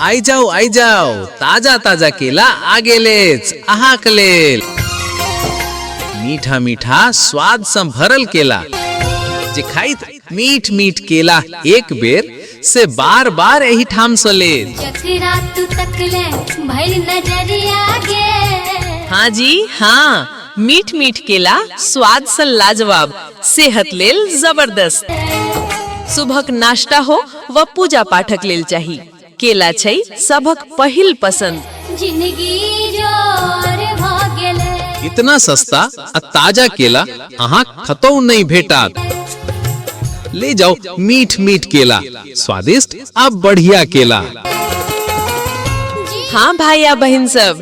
आई जाओ आई जाओ ताजा ताजा केला आ गेलेच अहाँक लेल मीठा मीठा स्वाद सँ भरल केला जे खाइत मीठ मीठ केला एक बेर से बार बार एही ठाम सँ लेल जकरा तू तकले भइल नजरिया गे हाँ जी हाँ मीठ मीठ केला स्वाद सँ लाजवाब सेहत लेल जबरदस्त सुबहक नाश्ता हो व पूजा पाठक लेल चाही केला छै सबक पहिल पसंद जिंदगी जोर भ गेलै इतना सस्ता आ ताजा केला अहाँ खतौ नहीं भेटात ले जाओ मीठ मीठ केला स्वादिष्ट आ बढ़िया केला हाँ भाई आ बहन सब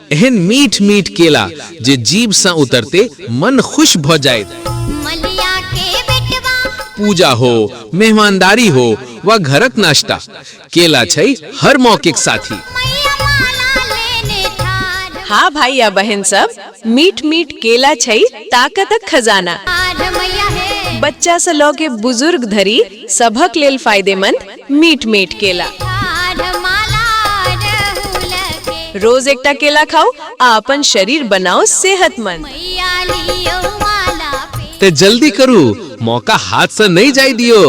एहन मीठ मीठ केला जे जीभ सँ उतरते मन खुश भ जायत मलिया के बेटवा पूजा हो मेहमानदारी हो वा घरक नाश्ता केला छै हर मौके के साथी मैया माला लेने ठाढ़ हाँ भाई या बहन सब मीठ मीठ केला छै ताकतक खजाना ठाढ़ मैया हे बच्चा से लऽ के बुजुर्ग धरि सभक लेल फायदेमंद मीट मीट केला रोज एकटा केला खाओ आ अपन शरीर बनाओ सेहतमंद ते जल्दी करू मौका हाथ से नहीं जाई दियो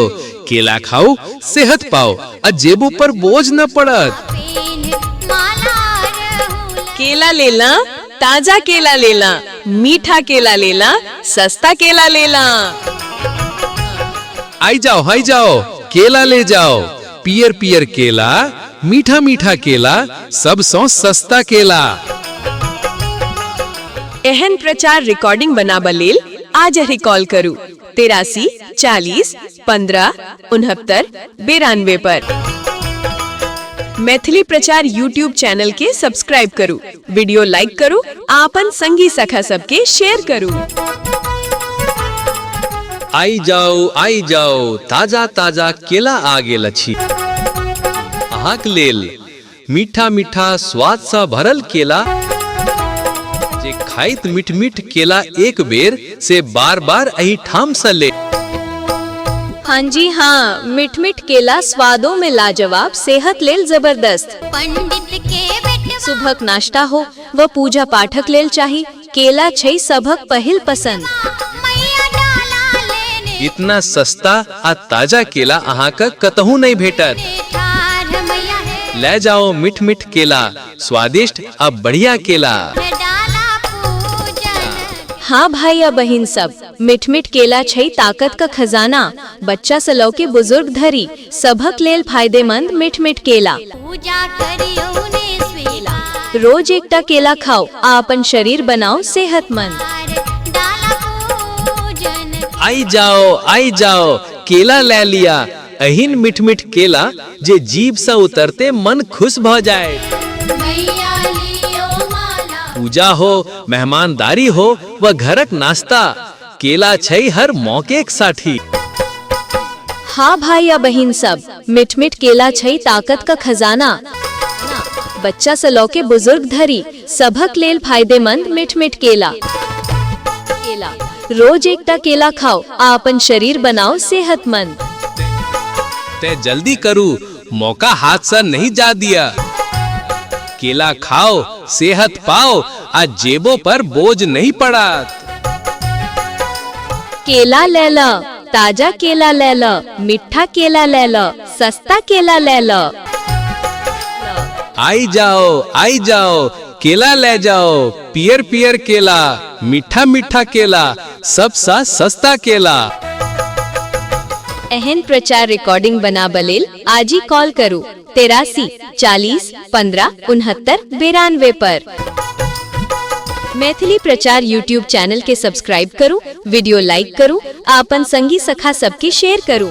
केला खाओ सेहत पाओ आ जेब ऊपर बोझ न पड़त केला लेला ताजा केला लेला मीठा केला लेला सस्ता केला लेला आई जाओ हाई जाओ केला ले जाओ पियर पियर केला मीठा मीठा केला सब सौ सस्ता केला एहन प्रचार रिकॉर्डिंग बनाबऽ लेल आज ही कॉल करू तेरासी चालीस पंद्रह उनहत्तर बेरानवे पर मैथिली प्रचार यूट्यूब चैनल के सब्सक्राइब करू वीडियो लाइक करू आ अपन संगी सखा सबके शेयर करू आई जाओ आई जाओ ताजा ताजा केला आ गेल अछि अहाँक लेल मीठा मीठा स्वाद सा भरल केला जे खाइत मीठ मीठ केला एक बेर से बार बार अही ठाम सा ले हाँ जी हाँ मिठ मिठ केला स्वादों में लाजवाब सेहत लेल जबरदस्त पंडित के बेटवा सुबहक नाश्ता हो व पूजा पाठक लेल चाही केला छै सभक पहिल पसन्द। इतना सस्ता आ ताजा केला अहां क कतहु नै भेटत। लय जाओ मिठ मिठ केला, स्वादिष्ट आ बढ़िया केला। हां भाई आ बहिन सब, मिठ मिठ केला छै ताकत क खजाना। बच्चा स लौके बुजुर्ग धरि, सभक लेल फायदेमंद मीठ-मीठ केला। पूजा करियौ ने स्वीकार। रोज एकटा केला खाउ आ अपन शरीर बनाउ सेहतमंद। डाला पूजन। आइ जाउ, आइ जाउ, केला लए लिया। एहन मीठ-मीठ केला जे जीभ सँ उतरते मन खुश भऽ जायत। मैया लियौ माला। पूजा हो, मेहमानदारी हो वा घरक नाश्ता, केला छै हर मौके के साठी हाँ भाई आ बहिन सब मिठ मिठ केला छै ताकत का खजाना बच्चा से लौके बुजुर्ग धरी सभक लेल फायदेमंद मिठ मिठ केला केला रोज एकटा केला खाओ आ अपन शरीर बनाओ सेहतमंद ते जल्दी करू मौका हाथ से नहीं जा दिया केला खाओ सेहत पाओ आ जेबो पर बोझ नहीं पड़ा केला ले ल ताजा केला ले ल मीठा केला ले ल सस्ता केला ले ल आई जाओ आई जाओ केला ले जाओ पियर पियर केला मीठा मीठा केला सबसँ सस्ता केला एहन प्रचार रिकॉर्डिंग बनाबऽ लेल आजि कॉल करू तेरासी चालीस पंद्रह उनहत्तर बेरानवे पर मैथिली प्रचार यूट्यूब चैनल के सब्सक्राइब करू वीडियो लाइक करू आ अपन संगी सखा सबके शेयर करू